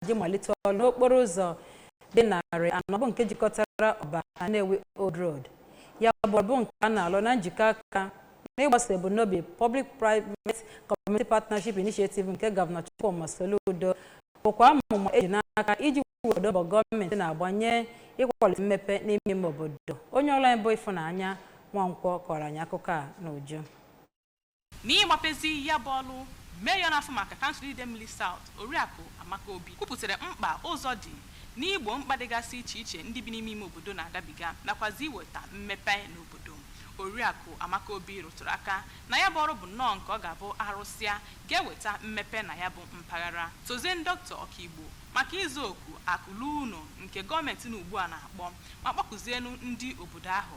ji malite ọrụ n'okporo ụzọ dị narị anọ bụ nke jikọtara Ọba na Nnewi Old Road ya bụ ọrụ bụ nke a na-alụ na njikọ aka n'ịgbaso ebumnobi Public Private Community Partnership Initiative nke Gọvanọ Chukwuma Soludo bụkwa amụma eji n'aka iji kwado mbọ gọọmenti na-agbanye ịkwalite mmepe n'ime ime obodo onye ọrụ anyị bụ Ifunanya Nwankwo kọọrọ anyị akụkọ a n'uju N'ịgbapezi ya bụ ọrụ, Mayor na-afụ maka Kansụl Idemmili South, Oriakụ Amaka Obi kwupụtara mkpa ụzọ dị n'igbo mkpa dịgasị iche iche ndị bi n'ime ime obodo na-agabiga nakwazị iweta mmepe n'obodo. Oriakụ Amaka Obi rụtụrụ aka na ya bụ ọrụ bụ nnọọ nke ọ ga-abụ a rụsịa, ga-eweta mmepe na ya bụ mpaghara. Tozienu Dọkịta Ọkaigbo maka ịza oku akụ luo ụnọ nke gọọmentị nọ ugbua na-akpọ ma kpọkuzienụ ndị obodo ahụ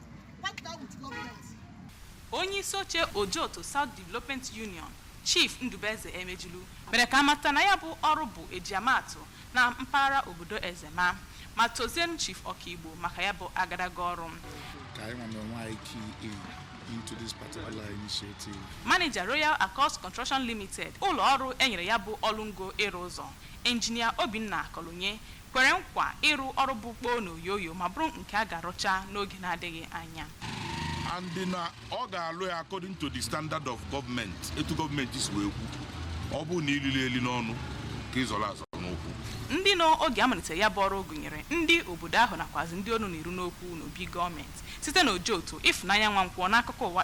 onye isi oche Ojoto South Development Union Chief Ndubueze Emejulu mere ka a mata na ya bụ ọrụ bụ eji ama atụ na mpaghara obodo Ezema ma tozienu Chief Ọkaigbo maka ya bụ agadaga ọrụ ka anyị nwere onwe anyị key in into this particular initiative. Manager Royal Accords Construction Limited ụlọ ọrụ enyere ya bụ ọrụ ngo ịrụ ụzọ Engineer Obinna Kolonye kwere nkwa ịrụ ọrụ bụ kpoo na oyoyo ma bụrụ nke a ga-arụcha n'oge na-adịghị anya. and na ọ ga-alụ ya according to the standard of government etu gọọmenti si wee kwu ọ bụrụ na ilili eli n'ọnụ ka ịzọrọ azọ n'ụkwụ ndị nọ oge a malitere ya bụ ọrụ gụnyere ndị obodo ahụ nakwazi ndị ọnụ na-eru n'okwu n'obi gọọmenti site n'Ojoto Ifunanya Nwankwo n'akụkọ ụwa